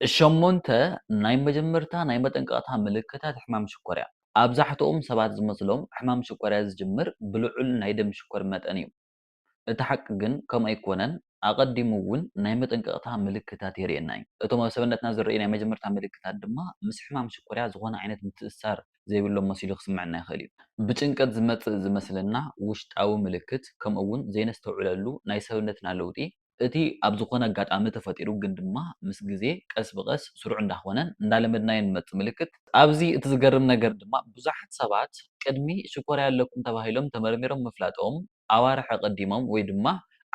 ሸሞንተ ናይ መጀመርታ ናይ መጠንቀቕታ ምልክታት ሕማም ሽኮርያ። ኣብዛሕትኦም ሰባት ዝመስሎም ሕማም ሽኮርያ ዝጅምር ብልዑል ናይ ደም ሽኮር መጠን እዩ። እቲ ሓቂ ግን ከምኡ ኣይኮነን፣ ኣቐዲሙ እውን ናይ መጠንቀቕታ ምልክታት የርእየና እዩ። እቶም ኣብ ሰብነትና ዝረኣዩ ናይ መጀመርታ ምልክታት ድማ ምስ ሕማም ሽኮርያ ዝኾነ ዓይነት ምትእስሳር ዘይብሎም መሲሉ ክስምዐና ይኽእል እዩ። ብጭንቀት ዝመጽእ ዝመስለና ውሽጣዊ ምልክት ከምኡ እውን ዘይነስተውዕለሉ ናይ ሰብነትና ለውጢ እቲ ኣብ ዝኾነ ኣጋጣሚ ተፈጢሩ ግን ድማ ምስ ግዜ ቀስ ብቐስ ስሩዕ እንዳኾነን እንዳለመድናዮን ንመጽእ ምልክት፣ ኣብዚ እቲ ዝገርም ነገር ድማ ብዙሓት ሰባት ቅድሚ ሽኮርያ ኣለኩም ተባሂሎም ተመርሚሮም ምፍላጦም ኣዋርሕ ኣቐዲሞም ወይ ድማ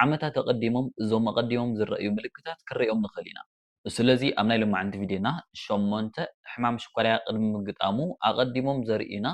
ዓመታት ኣቐዲሞም እዞም ኣቐዲሞም ዝረኣዩ ምልክታት ክንርእዮም ንኽእል ኢና። ስለዚ ኣብ ናይ ሎማዕንቲ ቪድዮና ሸሞንተ ሕማም ሽኮርያ ቅድሚ ምግጣሙ ኣቐዲሞም ዘርእዩና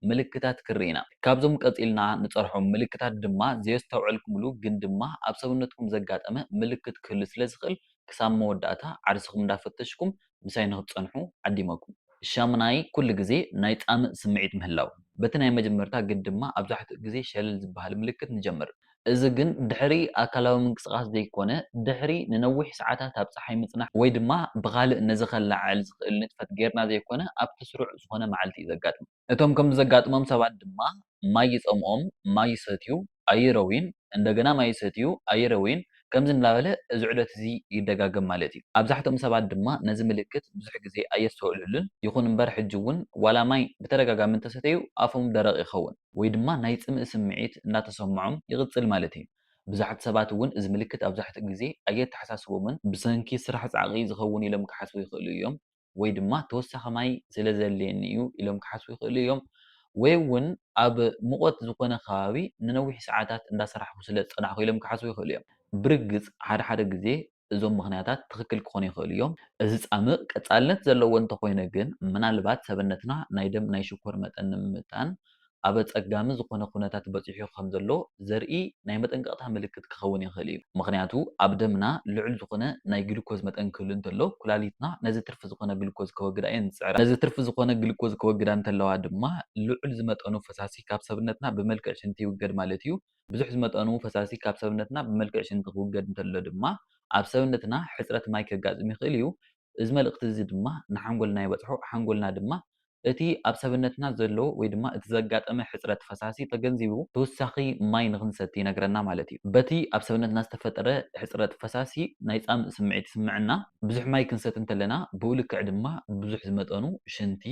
ምልክታት ክንርኢ ኢና። ካብዞም ቀጺልና ንጸርሖም ምልክታት ድማ ዘየስተውዐልኩምሉ ግን ድማ ኣብ ሰብነትኩም ዘጋጠመ ምልክት ክህሉ ስለ ዝኽእል ክሳብ መወዳእታ ዓርስኹም እንዳፈተሽኩም ምሳይ ንክትጸንሑ ዓዲመኩም። ሻሙናይ ኩሉ ግዜ ናይ ጻምእ ስምዒት ምህላው። በቲ ናይ መጀመርታ ግን ድማ ኣብዛሕትኡ ግዜ ሸለል ዝበሃል ምልክት ንጀምር። እዚ ግን ድሕሪ ኣካላዊ ምንቅስቓስ ዘይኮነ፣ ድሕሪ ንነዊሕ ሰዓታት ኣብ ጸሓይ ምጽናሕ ወይ ድማ ብኻልእ ነዚ ከለዓዕል ዝኽእል ንጥፈት ጌርና ዘይኮነ ኣብቲ ስሩዕ ዝኾነ መዓልቲ እዩ ዘጋጥም። እቶም ከምዚ ዘጋጥሞም ሰባት ድማ ማይ ይጸምኦም፣ ማይ ይሰትዩ፣ ኣይረውዩን፣ እንደገና ማይ ይሰትዩ፣ ኣይረውዩን፣ ከምዚ እንዳበለ እዚ ዑደት እዚ ይደጋገም ማለት እዩ። ኣብዛሕትኦም ሰባት ድማ ነዚ ምልክት ብዙሕ ግዜ ኣየስተውዕልሉን፣ ይኹን እምበር ሕጂ እውን ዋላ ማይ ብተደጋጋሚ እንተሰተዩ ኣፎም ደረቕ ይኸውን። ወይ ድማ ናይ ጽምኢ ስምዒት እናተሰምዖም ይቕጽል ማለት እዩ። ብዙሓት ሰባት እውን እዚ ምልክት ኣብዛሕትኡ ግዜ ኣየተሓሳስቦምን። ብሰንኪ ስራሕ ጻዕቒ ዝኸውን ኢሎም ክሓስቡ ይኽእሉ እዮም፣ ወይ ድማ ተወሳኺ ማይ ስለ ዘድልየኒ እዩ ኢሎም ክሓስቡ ይኽእሉ እዮም፣ ወይ እውን ኣብ ምቖት ዝኾነ ከባቢ ንነዊሕ ሰዓታት እንዳሰራሕኹ ስለ ዝጸናሕኩ ኢሎም ክሓስቡ ይኽእሉ እዮም። ብርግጽ፣ ሓደ ሓደ ግዜ እዞም ምኽንያታት ትኽክል ክኾኑ ይኽእሉ እዮም። እዚ ጻምእ ቀጻልነት ዘለዎ እንተኾይነ ግን ምናልባት ሰብነትና ናይ ደም ናይ ሽኮር መጠን ንምምጥጣን ኣብ ኣጸጋሚ ዝኾነ ኩነታት በጺሑ ከም ዘሎ ዘርኢ ናይ መጠንቀቕታ ምልክት ክኸውን ይኽእል እዩ። ምኽንያቱ ኣብ ደምና ልዑል ዝኾነ ናይ ግሉኮዝ መጠን ክህሉ እንተሎ ኩላሊትና ነዚ ትርፊ ዝኾነ ግሉኮዝ ከወግዳ እየን ዝጽዕራ። ነዚ ትርፊ ዝኾነ ግሉኮዝ ከወግዳ እንተለዋ ድማ ልዑል ዝመጠኑ ፈሳሲ ካብ ሰብነትና ብመልክዕ ሽንቲ ይውገድ ማለት እዩ። ብዙሕ ዝመጠኑ ፈሳሲ ካብ ሰብነትና ብመልክዕ ሽንቲ ክውገድ እንተሎ ድማ ኣብ ሰብነትና ሕጽረት ማይ ከጋጥም ይኽእል እዩ። እዚ መልእኽቲ እዚ ድማ ንሓንጎልና ይበጽሖ፣ ሓንጎልና ድማ እቲ ኣብ ሰብነትና ዘሎ ወይ ድማ እቲ ዘጋጠመ ሕጽረት ፈሳሲ ተገንዚቡ ተወሳኺ ማይ ንኽንሰቲ ይነግረና ማለት እዩ። በቲ ኣብ ሰብነትና ዝተፈጠረ ሕጽረት ፈሳሲ ናይ ጻምእ ስምዒት ይስምዐና። ብዙሕ ማይ ክንሰቲ እንተለና ብኡ ልክዕ ድማ ብዙሕ ዝመጠኑ ሽንቲ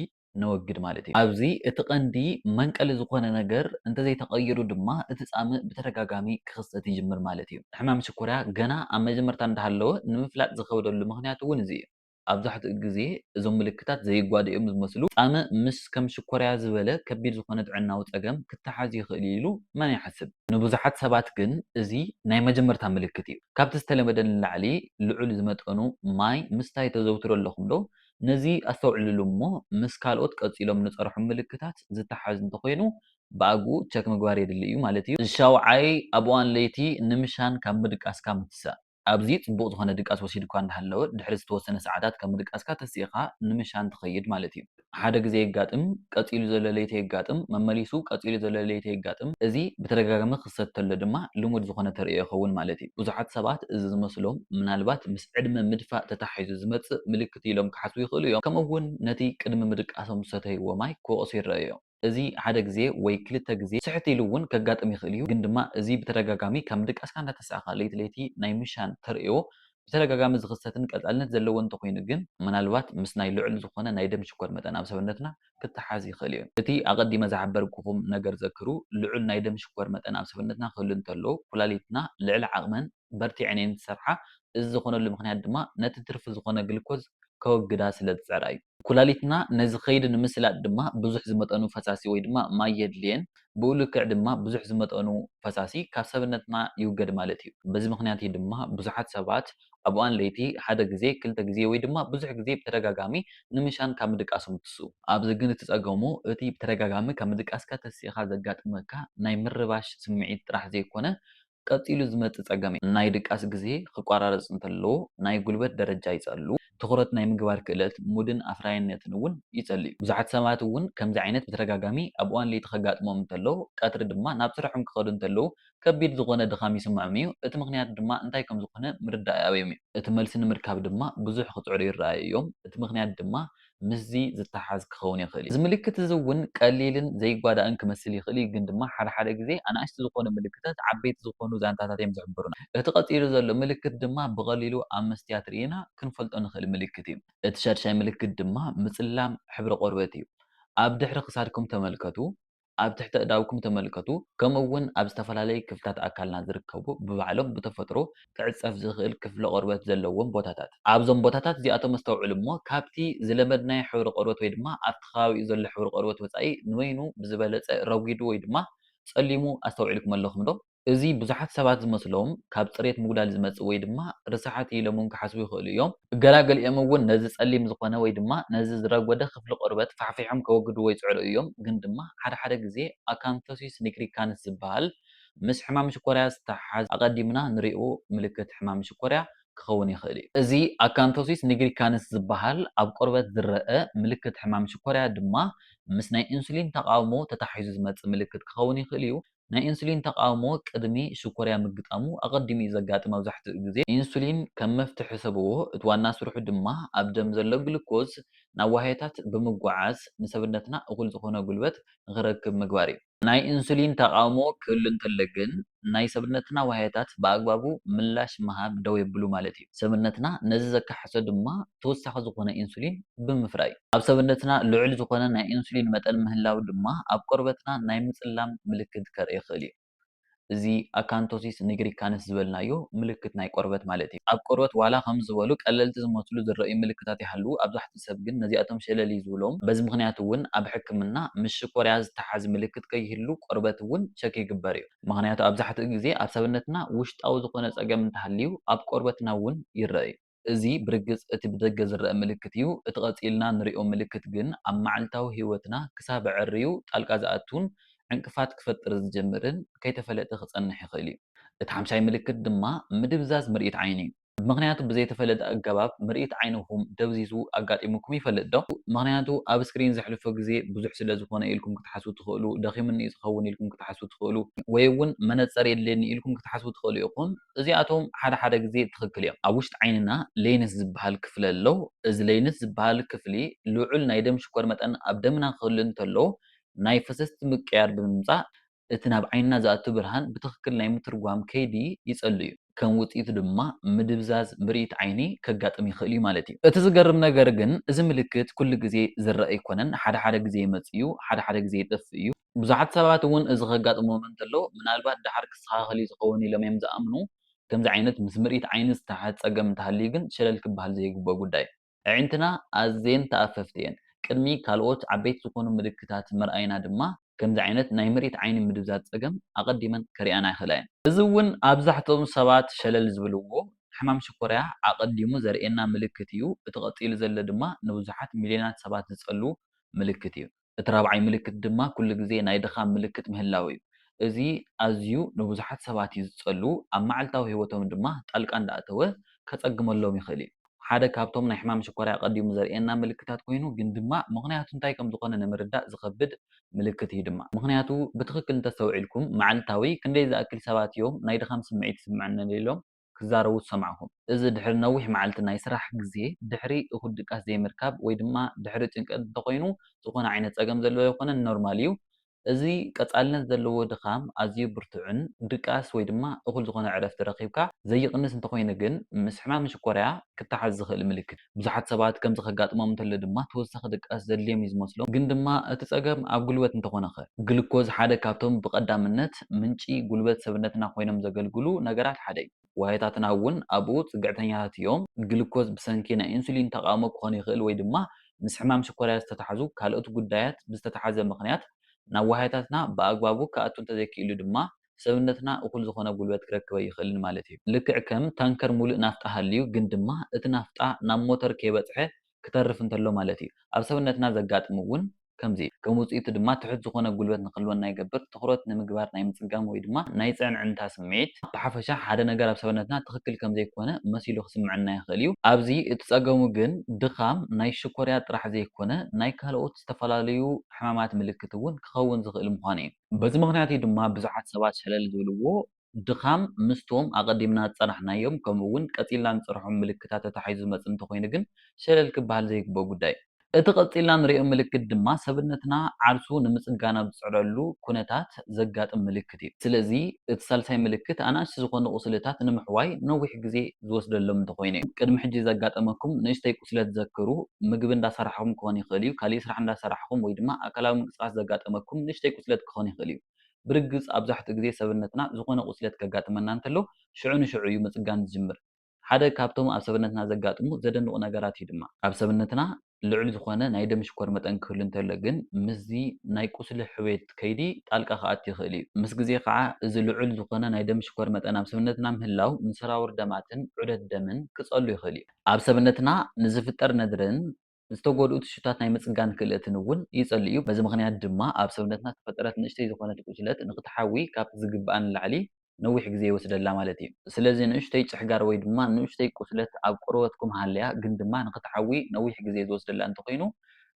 ነወግድ ማለት እዩ። ኣብዚ እቲ ቀንዲ መንቀሊ ዝኾነ ነገር እንተዘይተቐይሩ ድማ እቲ ጻምእ ብተደጋጋሚ ክኽሰት ይጅምር ማለት እዩ። ሕማም ሽኮርያ ገና ኣብ መጀመርታ እንዳሃለወ ንምፍላጥ ዝኸብደሉ ምኽንያት እውን እዚ እዩ። ኣብዛሕትኡ ግዜ እዞም ምልክታት ዘይጓዱ እዮም ዝመስሉ። ጻምእ ምስ ከም ሽኮርያ ዝበለ ከቢድ ዝኾነ ጥዕናዊ ጸገም ክተሓዝ ይኽእል እዩ ኢሉ መን ይሓስብ? ንብዙሓት ሰባት ግን እዚ ናይ መጀመርታ ምልክት እዩ። ካብቲ ዝተለመደ ንላዕሊ ልዑል ዝመጠኑ ማይ ምስታይ ተዘውትሩ ኣለኹም ዶ? ነዚ ኣስተውዕልሉ እሞ ምስ ካልኦት ቀጺሎም ንጸርሑ ምልክታት ዝተሓዝ እንተኾይኑ ብኣግኡ ቸክ ምግባር የድሊ እዩ ማለት እዩ። ሻውዓይ፣ ኣብ እዋን ለይቲ ንምሻን ካብ ምድቃስካ ምትሳእ። ኣብዚ ጽቡቕ ዝኾነ ድቃስ ወሲድኳ እንዳሃለወ ድሕሪ ዝተወሰነ ሰዓታት ካብ ምድቃስካ ተሲእኻ ንምሻን ትኸይድ ማለት እዩ። ሓደ ግዜ የጋጥም፣ ቀጺሉ ዘሎ ለይቲ የጋጥም፣ መመሊሱ ቀጺሉ ዘሎ ለይቲ የጋጥም። እዚ ብተደጋጋሚ ክኽሰት ተሎ ድማ ልሙድ ዝኾነ ተርእዮ ይኸውን ማለት እዩ። ብዙሓት ሰባት እዚ ዝመስሎም ምናልባት ምስ። ዕድመ ምድፋእ ተተሓሒዙ ዝመጽእ ምልክት ኢሎም ክሓስቡ ይኽእሉ እዮም። ከምኡ'ውን ነቲ ቅድሚ ምድቃሶም ዝሰተይዎ ማይ ክወቕሱ ይረኣዩ እዮም። እዚ ሓደ ግዜ ወይ ክልተ ግዜ ስሕት ኢሉ እውን ከጋጥም ይኽእል እዩ፣ ግን ድማ እዚ ብተደጋጋሚ ካብ ምድቃስካ እንዳተሳእኻ ለይቲ ለይቲ ናይ ምሻን ተርእዮ ብተደጋጋሚ ዝኽሰትን ቀጻልነት ዘለዎን እንተኾይኑ ግን፣ ምናልባት ምስ ናይ ልዑል ዝኾነ ናይ ደም ሽኮር መጠን ኣብ ሰብነትና ክተሓሓዝ ይኽእል እዩ። እቲ ኣቐዲመ ዝሓበርኩኹም ነገር ዘክሩ፣ ልዑል ናይ ደም ሽኮር መጠን ኣብ ሰብነትና ክህሉ እንተሎ፣ ኩላሊትና ልዕሊ ዓቕመን፣ በርቲዐን እየን ዝሰርሓ፣ እዚ ዝኾነሉ ምኽንያት ድማ ነቲ ትርፊ ዝኾነ ግሉኮዝ ከወግዳ ስለ ዝጽዕራ እዩ። ኩላሊትና ነዚ ከይዲ ንምስላጥ ድማ ብዙሕ ዝመጠኑ ፈሳሲ ወይ ድማ ማይ የድልየን፣ ብኡ ልክዕ ድማ ብዙሕ ዝመጠኑ ፈሳሲ ካብ ሰብነትና ይውገድ ማለት እዩ። በዚ ምኽንያት እዩ ድማ ብዙሓት ሰባት ኣብ እዋን ለይቲ ሓደ ግዜ፣ ክልተ ግዜ ወይ ድማ ብዙሕ ግዜ ብተደጋጋሚ ንምሻን ካብ ምድቃሶም ዝትስኡ። ኣብዚ ግን እቲ ጸገሙ እቲ ብተደጋጋሚ ካብ ምድቃስካ ተሲእኻ ዘጋጥመካ ናይ ምርባሽ ስምዒት ጥራሕ ዘይኮነ ቀጺሉ ዝመጽእ ጸገም እዩ። ናይ ድቃስ ግዜ ክቋራረጽ እንተለዎ ናይ ጉልበት ደረጃ ይጸሉ፣ ትኹረት ናይ ምግባር ክእለት፣ ሙድን ኣፍራይነትን እውን ይጸል'ዩ። ብዙሓት ሰባት እውን ከምዚ ዓይነት ብተደጋጋሚ ኣብ እዋን ለይቲ ከጋጥሞም እንተሎ፣ ቀትሪ ድማ ናብ ስርሖም ክኸዱ እንተለዉ ከቢድ ዝኾነ ድኻም ይስምዖም እዩ። እቲ ምኽንያት ድማ እንታይ ከም ዝኾነ ምርዳእ ይኣብዮም እዩ። እቲ መልሲ ንምርካብ ድማ ብዙሕ ክጽዕሩ ይረኣዩ እዮም። እቲ ምኽንያት ድማ ምስዚ ዝተሓሓዝ ክኸውን ይኽእል እዩ። እዚ ምልክት እዚ እውን ቀሊልን ዘይጓዳእን ክመስል ይኽእል እዩ፣ ግን ድማ ሓደ ሓደ ግዜ ኣናእሽቲ ዝኾኑ ምልክታት ዓበይቲ ዝኾኑ ዛንታታት እዮም ዝሕብሩና። እቲ ቀጺሉ ዘሎ ምልክት ድማ ብቐሊሉ ኣብ መስትያት ርኢና ክንፈልጦ ንኽእል ምልክት እዩ። እቲ ሻድሻይ ምልክት ድማ ምጽላም ሕብሪ ቆርበት እዩ። ኣብ ድሕሪ ክሳድኩም ተመልከቱ፣ ኣብ ትሕቲ ኣእዳውኩም ተመልከቱ፣ ከምኡውን ኣብ ዝተፈላለዩ ክፍልታት ኣካልና ዝርከቡ ብባዕሎም ብተፈጥሮ ክዕጸፍ ዝኽእል ክፍሊ ቆርበት ዘለዎም ቦታታት። ኣብዞም ቦታታት እዚኣቶም ኣስተውዕሉ እሞ ካብቲ ዝለመድናዮ ሕብሪ ቆርበት ወይ ድማ ኣብቲ ከባቢኡ ዘሎ ሕብሪ ቆርበት ወጻኢ ንበይኑ ብዝበለጸ ረጒዱ ወይ ድማ ጸሊሙ ኣስተውዒልኩም ኣለኹምዶ? እዚ ብዙሓት ሰባት ዝመስሎም ካብ ጽሬት ምጉዳል ዝመጽእ ወይ ድማ ርሳሓት እዩ ኢሎም'ውን ክሓስቡ ይኽእሉ እዮም። ገላ ገሊኦም እውን ነዚ ጸሊም ዝኾነ ወይ ድማ ነዚ ዝረጎደ ክፍሊ ቆርበት ፋሕፊሖም ከወግድዎ ይጽዕሩ እዮም። ግን ድማ ሓደ ሓደ ግዜ ኣካንቶሲስ ኒግሪካንስ ዝበሃል ምስ ሕማም ሽኮርያ ዝተሓሓዝ ኣቐዲምና ንሪኦ ምልክት ሕማም ሽኮርያ ክኸውን ይኽእል እዩ። እዚ ኣካንቶሲስ ኒግሪካንስ ዝበሃል ኣብ ቆርበት ዝረኣ ምልክት ሕማም ሽኮርያ ድማ ምስ ናይ ኢንሱሊን ተቓውሞ ተተሓሒዙ ዝመጽእ ምልክት ክኸውን ይኽእል እዩ። ናይ ኢንሱሊን ተቓውሞ ቅድሚ ሽኮርያ ምግጣሙ ኣቐዲሙ እዩ ዘጋጥም መብዛሕትኡ ግዜ። ኢንሱሊን ከም መፍትሒ ሰብዎ፣ እቲ ዋና ስርሑ ድማ ኣብ ደም ዘሎ ግሉኮዝ ናብ ዋህዮታት ብምጉዓዝ ንሰብነትና እኹል ዝኾነ ጉልበት ንኽረክብ ምግባር እዩ። ናይ ኢንሱሊን ተቓውሞ ክህሉ እንተሎ ግን ናይ ሰብነትና ዋህዮታት ብኣግባቡ ምላሽ ምሃብ ደው የብሉ ማለት እዩ። ሰብነትና ነዚ ዘካሕሶ ድማ ተወሳኺ ዝኾነ ኢንሱሊን ብምፍራይ። ኣብ ሰብነትና ልዑል ዝኾነ ናይ ኢንሱሊን መጠን ምህላው ድማ ኣብ ቆርበትና ናይ ምጽላም ምልክት ከርኢ ይኽእል እዩ። እዚ ኣካንቶሲስ ኒግሪካንስ ዝበልናዮ ምልክት ናይ ቆርበት ማለት እዩ። ኣብ ቆርበት ዋላ ከምዚ ዝበሉ ቀለልቲ ዝመስሉ ዝረኣዩ ምልክታት ይሃልዉ ኣብዛሕትኡ ሰብ ግን ነዚኣቶም ሸለል እዩ ዝብሎም። በዚ ምኽንያት እውን ኣብ ሕክምና ምስ ሽኮርያ ዝተሓዝ ምልክት ከይህሉ ቆርበት እውን ቸክ ይግበር እዩ። ምኽንያቱ ኣብዛሕትኡ ግዜ ኣብ ሰብነትና ውሽጣዊ ዝኾነ ጸገም እንተሃልዩ ኣብ ቆርበትና እውን ይረኣ እዩ። እዚ ብርግጽ እቲ ብደገ ዝረኣ ምልክት እዩ፣ እቲ ቀጺልና እንርእዮ ምልክት ግን ኣብ መዓልታዊ ህይወትና ክሳብ ኣዐርዩ ጣልቃ ዝኣቱን ዕንቅፋት ክፈጥር ዝጅምርን ከይተፈለጠ ክጸንሕ ይኽእል እዩ። እቲ ሓምሻይ ምልክት ድማ ምድብዛዝ ምርኢት ዓይኒ እዩ። ምኽንያቱ ብዘይተፈለጠ ኣገባብ ምርኢት ዓይንኹም ደብዚዙ ኣጋጢሙኩም ይፈልጥ ዶ? ምኽንያቱ ኣብ ስክሪን ዘሕልፎ ግዜ ብዙሕ ስለ ዝኾነ ኢልኩም ክትሓስቡ ትኽእሉ፣ ደኺሙኒ እዩ ዝኸውን ኢልኩም ክትሓስቡ ትኽእሉ፣ ወይ'ውን መነጸር የድልየኒ ኢልኩም ክትሓስቡ ትኽእሉ ኢኹም። እዚኣቶም ሓደ ሓደ ግዜ ትኽክል እዮም። ኣብ ውሽጢ ዓይንና ሌንስ ዝበሃል ክፍሊ ኣሎ። እዚ ሌንስ ዝበሃል ክፍሊ ልዑል ናይ ደም ሽኮር መጠን ኣብ ደምና ክህሉ እንተሎ ናይ ፈሰስቲ ምቅያር ብምምፃእ እቲ ናብ ዓይንና ዝኣቱ ብርሃን ብትኽክል ናይ ምትርጓም ከይዲ ይፀሉ እዩ። ከም ውፅኢቱ ድማ ምድብዛዝ ምርኢት ዓይኒ ከጋጥም ይኽእል እዩ ማለት እዩ። እቲ ዝገርም ነገር ግን እዚ ምልክት ኩሉ ግዜ ዝረኣ ኣይኮነን። ሓደ ሓደ ግዜ ይመፅእ እዩ፣ ሓደ ሓደ ግዜ ይጠፍእ እዩ። ብዙሓት ሰባት እውን እዚ ከጋጥሞም እንተሎ ምናልባት ድሓር ክስተኻኸል እዩ ዝኸውን ኢሎም እዮም ዝኣምኑ። ከምዚ ዓይነት ምስ ምርኢት ዓይኒ ዝተሓሓዝ ጸገም እንተሃልዩ ግን ሸለል ክበሃል ዘይግብኦ ጉዳይ እዩ። ኣዒንትና ኣዝየን ተኣፈፍቲ እየን። ቅድሚ ካልኦት ዓበይቲ ዝኾኑ ምልክታት ምርኣይና ድማ ከምዚ ዓይነት ናይ ምርኢት ዓይኒ ምድብዛዝ ጸገም ኣቐዲመን ከርእያና ይኽእላ እየን። እዚ እውን ኣብዛሕትኦም ሰባት ሸለል ዝብልዎ ሕማም ሽኮርያ ኣቐዲሙ ዘርእየና ምልክት እዩ። እቲ ቀጺሉ ዘሎ ድማ ንብዙሓት ሚልዮናት ሰባት ዝጸሉ ምልክት እዩ። እቲ ራብዓይ ምልክት ድማ ኩሉ ግዜ ናይ ድኻም ምልክት ምህላው እዩ። እዚ ኣዝዩ ንብዙሓት ሰባት እዩ ዝጸሉ፣ ኣብ መዓልታዊ ህይወቶም ድማ ጣልቃ እንዳኣተወ ከጸግመሎም ይኽእል እዩ። ሓደ ካብቶም ናይ ሕማም ሽኮርያ ኣቐዲሙ ዘርእየና ምልክታት ኮይኑ ግን ድማ ምኽንያቱ እንታይ ከም ዝኾነ ንምርዳእ ዝኸብድ ምልክት እዩ ድማ። ምኽንያቱ ብትኽክል እንተስተውዒልኩም መዓልታዊ ክንደይ ዝኣክል ሰባት እዮም ናይ ድኻም ስምዒት ይስምዐኒ ኢሎም? ክዛረቡ ዝሰማዕኩም። እዚ ድሕሪ ነዊሕ መዓልቲ ናይ ስራሕ ግዜ፣ ድሕሪ እኹል ድቃስ ዘይምርካብ ወይ ድማ ድሕሪ ጭንቀት እንተኾይኑ ዝኾነ ዓይነት ጸገም ዘለዎ ኣይኮነን ኖርማል እዩ። እዚ ቀጻልነት ዘለዎ ድኻም ኣዝዩ ብርቱዕን ድቃስ ወይ ድማ እኹል ዝኾነ ዕረፍቲ ረኺብካ ዘይቕንስ እንተኾይኑ ግን ምስ ሕማም ሽኮርያ ክተሓዝ ዝኽእል ምልክት እዩ። ብዙሓት ሰባት ከምዚ ከጋጥሞም እንተሎ ድማ ተወሳኺ ድቃስ ዘድልዮም እዩ ዝመስሎም። ግን ድማ እቲ ጸገም ኣብ ጉልበት እንተኾነኸ? ግሉኮዝ ሓደ ካብቶም ብቐዳምነት ምንጪ ጉልበት ሰብነትና ኮይኖም ዘገልግሉ ነገራት ሓደ እዩ። ዋህዮታትና እውን ኣብኡ ጽግዕተኛታት እዮም። ግሉኮዝ ብሰንኪ ናይ ኢንሱሊን ተቓውሞ ክኾን ይኽእል ወይ ድማ ምስ ሕማም ሽኮርያ ዝተታሕዙ ካልኦት ጉዳያት ብዝተታሓዘ ምኽንያት ናብ ዋህዮታትና ብኣግባቡ ክኣቱ እንተዘይክኢሉ ድማ ሰብነትና እኹል ዝኾነ ጉልበት ክረክብ ኣይኽእልን ማለት እዩ። ልክዕ ከም ታንከር ሙሉእ ናፍጣ ሃልዩ ግን ድማ እቲ ናፍጣ ናብ ሞተር ከይበፅሐ ክተርፍ እንተሎ ማለት እዩ። ኣብ ሰብነትና ዘጋጥም እውን ከምዚ እዩ። ከም ውፅኢቱ ድማ ትሑት ዝኾነ ጉልበት ንክህልወና ይገብር፣ ትኹረት ንምግባር ናይ ምፅጋም ወይ ድማ ናይ ፅዕንዕንታ ስምዒት፣ ብሓፈሻ ሓደ ነገር ኣብ ሰብነትና ትኽክል ከምዘይኮነ መሲሉ ክስምዐና ይኽእል እዩ። ኣብዚ እቲ ፀገሙ ግን ድኻም ናይ ሽኮርያ ጥራሕ ዘይኮነ ናይ ካልኦት ዝተፈላለዩ ሕማማት ምልክት እውን ክኸውን ዝኽእል ምዃኑ እዩ። በዚ ምኽንያት እዩ ድማ ብዙሓት ሰባት ሸለል ዝብልዎ፣ ድኻም ምስቶም ኣቐዲምና ዝጸናሕናዮም ከምኡ'ውን ቀጺልና ንጽርሖም ምልክታት ተታሒዙ ዝመጽእ እንተኾይኑ ግን ሸለል ክበሃል ዘይግብኦ ጉዳይ እዩ። እቲ ቀጺልና ንርእዮ ምልክት ድማ ሰብነትና ዓርሱ ንምጽጋን ኣብ ዝጽዕረሉ ኩነታት ዘጋጥም ምልክት እዩ። ስለዚ እቲ ሳልሳይ ምልክት ኣናእሽቲ ዝኾኑ ቁስልታት ንምሕዋይ ነዊሕ ግዜ ዝወስደሎም እንተኾይኑ እዩ። ቅድሚ ሕጂ ዘጋጠመኩም ንእሽተይ ቁስለት ዘክሩ። ምግቢ እንዳሰራሕኹም ክኾን ይኽእል እዩ፣ ካሊእ ስራሕ እንዳሰራሕኹም ወይ ድማ ኣካላዊ ምንቅስቓስ ዘጋጠመኩም ንእሽተይ ቁስለት ክኾን ይኽእል እዩ። ብርግጽ ኣብዛሕትኡ ግዜ ሰብነትና ዝኾነ ቁስለት ከጋጥመና እንተሎ ሽዑ ንሽዑ እዩ ምጽጋን ዝጅምር። ሓደ ካብቶም ኣብ ሰብነትና ዘጋጥሙ ዘደንቑ ነገራት እዩ ድማ። ኣብ ሰብነትና ልዑል ዝኾነ ናይ ደም ሽኮር መጠን ክህሉ እንተሎ ግን ምስዚ ናይ ቁስሊ ሕውየት ከይዲ ጣልቃ ክኣቲ ይኽእል እዩ። ምስ ግዜ ከዓ እዚ ልዑል ዝኾነ ናይ ደም ሽኮር መጠን ኣብ ሰብነትና ምህላው ንሰራውር ደማትን ዑደት ደምን ክፀሉ ይኽእል እዩ። ኣብ ሰብነትና ንዝፍጠር ነድርን ዝተጎድኡ ቲሹታት ናይ ምፅጋን ክእለትን እውን ይፀሉ እዩ። በዚ ምኽንያት ድማ ኣብ ሰብነትና ዝተፈጠረት ንእሽተይ ዝኾነት ቁስለት ንክትሓዊ ካብቲ ዝግበኣ ንላዕሊ ነዊሕ ግዜ ይወስደላ ማለት እዩ። ስለዚ ንእሽተይ ጭሕጋር ወይ ድማ ንእሽተይ ቁስለት ኣብ ቆርበትኩም ሃልያ ግን ድማ ንኽትዓዊ ነዊሕ ግዜ ዝወስደላ እንተኾይኑ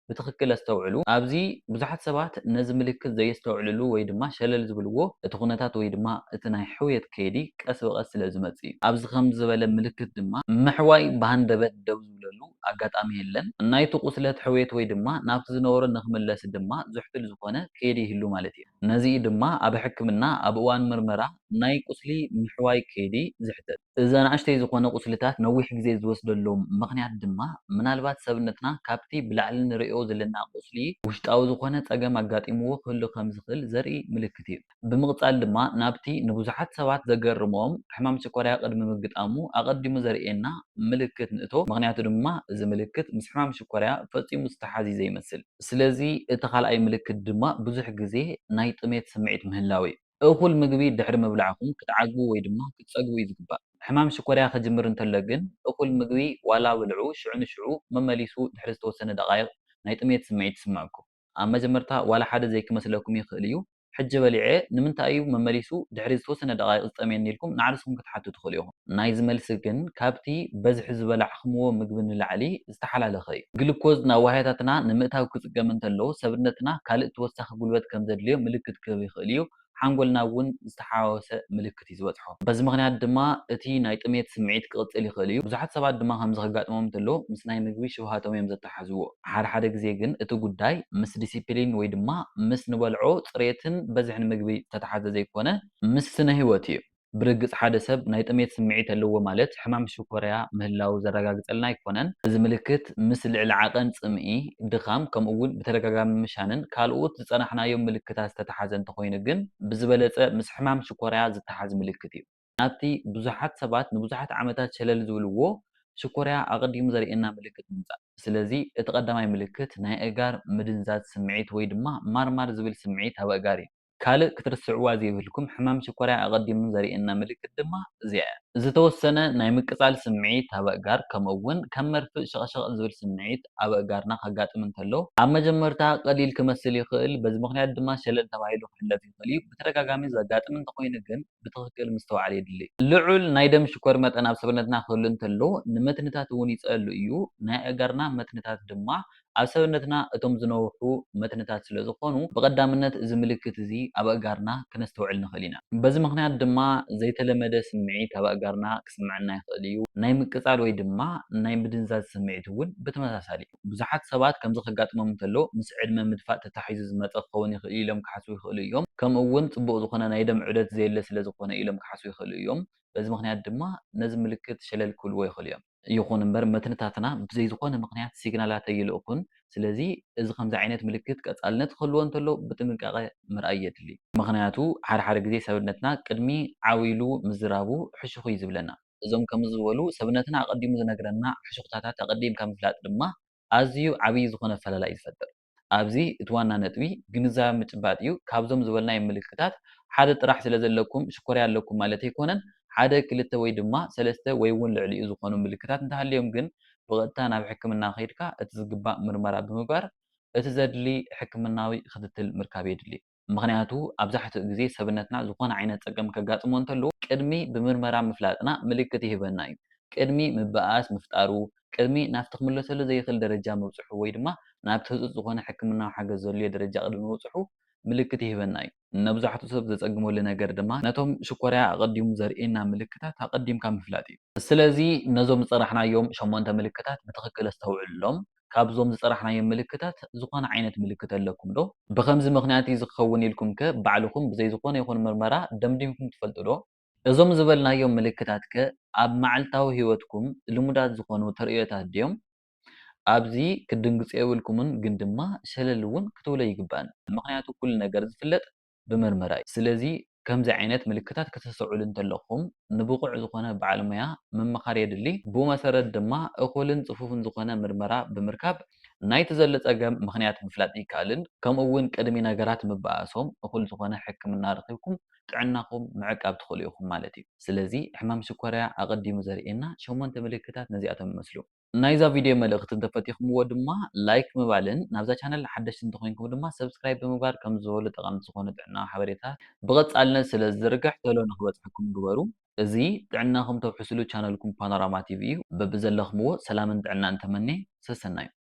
ብትኽክል ኣስተውዕሉ። ኣብዚ ብዙሓት ሰባት ነዚ ምልክት ዘየስተውዕልሉ ወይ ድማ ሸለል ዝብልዎ እቲ ኩነታት ወይ ድማ እቲ ናይ ሕውየት ከይዲ ቀስ ብቐስ ስለዝመጽእ እዩ። ኣብዚ ከምዚ ዝበለ ምልክት ድማ ምሕዋይ ብሃንደበት ደው ዝብለሉ ኣጋጣሚ የለን። ናይቲ ቁስለት ሕውየት ወይ ድማ ናብቲ ዝነበሮ ንኽምለስ ድማ ዘሕቱል ዝኾነ ከይዲ ይህሉ ማለት እዩ። ነዚ እዩ ድማ ኣብ ሕክምና ኣብ እዋን ምርመራ ናይ ቁስሊ ምሕዋይ ከይዲ ዝሕተት። እዚ ኣናእሽተይ ዝኾነ ቁስልታት ነዊሕ ግዜ ዝወስደሎም ምኽንያት ድማ ምናልባት ሰብነትና ካብቲ ብላዕሊ ንርእዮ ዘለና ቁስሊ ውሽጣዊ ዝኾነ ፀገም ኣጋጢምዎ ክህሉ ከም ዝኽእል ዘርኢ ምልክት እዩ። ብምቕፃል ድማ ናብቲ ንብዙሓት ሰባት ዘገርሞም ሕማም ሽኮርያ ቅድሚ ምግጣሙ ኣቐዲሙ ዘርእየና ምልክት ንእቶ ምኽንያቱ ድማ እዚ ምልክት ምስ ሕማም ሽኮርያ ፈፂሙ ዝተሓዝዩ ዘይመስል ስለዚ እቲ ካልኣይ ምልክት ድማ ብዙሕ ግዜ ናይ ጥሜት ስምዒት ምህላው እዩ። እኹል ምግቢ ድሕሪ ምብላዕኩም ክትዓግቡ ወይ ድማ ክትጸግቡ እዩ ዝግባእ። ሕማም ሽኮርያ ክጅምር እንተሎ ግን እኹል ምግቢ ዋላ ብልዑ ሽዑ ንሽዑ መመሊሱ ድሕሪ ዝተወሰነ ደቓይቕ ናይ ጥሜት ስምዒት ይስምዐኩም። ኣብ መጀመርታ ዋላ ሓደ ዘይክመስለኩም ይኽእል እዩ። ሕጂ በሊዐ ንምንታይ እዩ መመሊሱ ድሕሪ ዝተወሰነ ደቓይቕ ዝጠምየኒ ኢልኩም ንዓርስኩም ክትሓቱ ትኽእሉ ኢኹም። ናይዚ መልሲ ግን ካብቲ በዝሒ ዝበላዕክምዎ ምግቢ ንላዕሊ ዝተሓላለኸ እዩ። ግሉኮዝ ናብ ዋህያታትና ንምእታው ክጽገም እንተሎ፣ ሰብነትና ካልእ ተወሳኺ ጉልበት ከም ዘድልዮ ምልክት ክህብ ይኽእል እዩ፣ ሓንጎልና እውን ዝተሓዋወሰ ምልክት። ምልክት'ዩ ዝበጽሖ። በዚ ምኽንያት ድማ እቲ ናይ ጥሜት ስምዒት ክቕጽል ይኽእል እዩ። ብዙሓት ሰባት ድማ ከምዚ ከጋጥሞም እንተሎ ምስ ናይ ምግቢ ሽውሃቶም እዮም ዘተሓሕዝዎ። ሓደ ሓደ ግዜ ግን እቲ ጉዳይ ምስ ዲሲፕሊን ወይ ድማ ምስ ንበልዖ ጽሬትን በዝሕን ምግቢ ዝተተሓዘ ዘይኮነ፣ ምስ ስነ ህይወት እዩ። ብርግጽ ሓደ ሰብ ናይ ጥሜት ስምዒት ኣለዎ ማለት ሕማም ሽኮርያ ምህላዉ ዘረጋግጸልና ኣይኮነን። እዚ ምልክት ምልክት ምስ ልዕሊ ዓቐን ጽምኢ፣ ድኻም፣ ከምኡ'ውን ብተደጋጋሚ ምሻንን ካልኦት ዝጸናሕናዮም ምልክታት ዝተተሓዘ እንተኾይኑ ግን ብዝበለጸ ምስ ሕማም ሽኮርያ ዝተሓዝ ምልክት እዩ። ናብቲ ብዙሓት ሰባት ንብዙሓት ዓመታት ሸለል ዝብልዎ ሽኮርያ ኣቐዲሙ ዘርእየና ምልክት ንምጻእ። ስለዚ እቲ ቀዳማይ ምልክት ናይ ኣእጋር ምድንዛዝ ስምዒት ወይ ድማ ማርማር ዝብል ስምዒት ኣብ ኣእጋር እዩ። ካልእ ክትርስዕዋ ዘይብልኩም ሕማም ሽኮርያ ኣቐዲሙ ዘርእየና ምልክት ድማ እዚኣ'ያ። ዝተወሰነ ናይ ምቅጻል ስምዒት ኣብ ኣእጋር ከምኡ'ውን ከም መርፍእ ሸቕሸቕ ዝብል ስምዒት ኣብ ኣእጋርና ከጋጥም እንከሎ፣ ኣብ መጀመርታ ቀሊል ክመስል ይኽእል፣ በዚ ምኽንያት ድማ ሸለል ተባሂሉ ክሕለፍ ይኽእል'ዩ። ብተደጋጋሚ ዘጋጥም እንተኾይኑ ግን ብትኽክል ምስትውዓል የድሊ። ልዑል ናይ ደም ሽኮር መጠን ኣብ ሰብነትና ክህሉ እንተሎ ንመትንታት እውን ይጸሉ እዩ፣ ናይ ኣእጋርና መትንታት ድማ ኣብ ሰብነትና እቶም ዝነውሑ መትንታት ስለ ዝዀኑ፣ ብቐዳምነት እዚ ምልክት እዚ ኣብ ኣእጋርና ከነስተውዕል ንኽእል ኢና። በዚ ምኽንያት ድማ ዘይተለመደ ስምዒት ኣብ ኣእጋርና ክስምዓና ይኽእል እዩ። ናይ ምቅጻል ወይ ድማ ናይ ምድንዛዝ ስምዒት እውን ብተመሳሳሊ እዩ። ብዙሓት ሰባት ከምዚ ከጋጥሞም እንከሎ ምስ ዕድመ ምድፋእ ተታሒዙ ዝመጸ ክኸውን ይኽእል እዩ ኢሎም ክሓስቡ ይኽእሉ እዮም። ከምኡውን ጽቡቕ ዝዀነ ናይ ደም ዑደት ዘየለ ስለ ዝዀነ ኢሎም ክሓስቡ ይኽእሉ እዮም። በዚ ምኽንያት ድማ ነዚ ምልክት ሸለል ክብልዎ ይኽእሉ እዮም። ይኹን እምበር መትንታትና ብዘይ ዝኾነ ምኽንያት ሲግናላት ኣይልእኩን። ስለዚ እዚ ከምዚ ዓይነት ምልክት ቀጻልነት ክህልዎ እንተሎ ብጥንቃቐ ምርኣይ የድሊ። ምኽንያቱ ሓደ ሓደ ግዜ ሰብነትና ቅድሚ ዓው ኢሉ ምዝራቡ ሕሹኽ እዩ ዝብለና። እዞም ከምዚ ዝበሉ ሰብነትና ኣቐዲሙ ዝነግረና ሕሹኽታታት ኣቐዲምካ ምፍላጥ ድማ ኣዝዩ ዓብዪ ዝኾነ ኣፈላላይ እዩ ዝፈጥር። ኣብዚ እቲ ዋና ነጥቢ ግንዛበ ምጭባጥ እዩ ካብዞም ዝበልናዮም ምልክታት ሓደ ጥራሕ ስለ ዘለኩም ሽኮርያ ኣለኩም ማለት ኣይኮነን ሓደ ክልተ ወይ ድማ ሰለስተ ወይ እውን ልዕሊኡ ዝኾኑ ምልክታት እንተሃልዮም ግን ብቐጥታ ናብ ሕክምና ከይድካ እቲ ዝግባእ ምርመራ ብምግባር እቲ ዘድሊ ሕክምናዊ ክትትል ምርካብ የድሊ። ምኽንያቱ ኣብዛሕትኡ ግዜ ሰብነትና ዝኾነ ዓይነት ጸገም ከጋጥሞ እንተሎ ቅድሚ ብምርመራ ምፍላጥና ምልክት ይህበና እዩ ቅድሚ ምብኣስ ምፍጣሩ ቅድሚ ናብቲ ክምለሰሉ ዘይኽእል ደረጃ ምብጽሑ ወይ ድማ ናብቲ ህጹጽ ዝኾነ ሕክምናዊ ሓገዝ ዘድልዮ ደረጃ ቅድሚ ምብጽሑ ምልክት ይህበና እዩ። ነብዛሕትኡ ሰብ ዘጸግመሉ ነገር ድማ ነቶም ሽኮርያ ኣቐዲሙ ዘርእየና ምልክታት ኣቐዲምካ ምፍላጥ እዩ። ስለዚ ነዞም ዝጸራሕናዮም ሸሞንተ ምልክታት ብትኽክል ኣስተውዕሉሎም ካብዞም ዝጸራሕናዮም ምልክታት ዝኾነ ዓይነት ምልክት ኣለኩም ዶ? ብኸምዚ ምኽንያት እዩ እዚ ክኸውን ኢልኩም ከ ባዕልኹም ብዘይ ዝኾነ ይኹን ምርመራ ደምዲምኩም ትፈልጡ ዶ? እዞም ዝበልናዮም ምልክታት ከ ኣብ መዓልታዊ ህይወትኩም ልሙዳት ዝኾኑ ተርእዮታት ድዮም? ኣብዚ ክትድንግጹ የብልኩምን ግን ድማ ሸለል እውን ክትብሉ ኣይግባእን። ምኽንያቱ ኩሉ ነገር ዝፍለጥ ብመርመራ እዩ። ስለዚ ከምዚ ዓይነት ምልክታት ክተስተውዕሉ እንተለኹም ንብቑዕ ዝኾነ በዓል ሞያ ምምኻር የድሊ። ብኡ መሰረት ድማ እኹልን ጽፉፍን ዝኾነ ምርመራ ብምርካብ ናይቲ ዘሎ ጸገም ምኽንያት ምፍላጥ ይከኣልን ከምኡ እውን ቅድሚ ነገራት ምበኣሶም እኹል ዝኾነ ሕክምና ረኺብኩም ጥዕናኹም ምዕቃብ ትኽእሉ ኢኹም ማለት እዩ። ስለዚ ሕማም ሽኮርያ ኣቐዲሙ ዘርእየና ሸሞንተ ምልክታት ነዚኣቶም ይመስሉ። ናይዛ ቪድዮ መልእኽቲ እንተፈቲኹምዎ ድማ ላይክ ምባልን ናብዛ ቻነል ሓደሽቲ እንተኾይንኩም ድማ ሰብስክራይብ ብምግባር ከምዚ ዝበሉ ጠቐምቲ ዝኾኑ ጥዕናዊ ሓበሬታ ብቐፃልነት ስለዝዝርግሕ ቶሎ ንኽበፅሐኩም ግበሩ። እዚ ጥዕናኹም ተውሕስሉ ቻነልኩም ፓኖራማ ቲቪ እዩ። በብዘለኽምዎ ሰላምን ጥዕናን ተመኔ። ሰሰናዩ።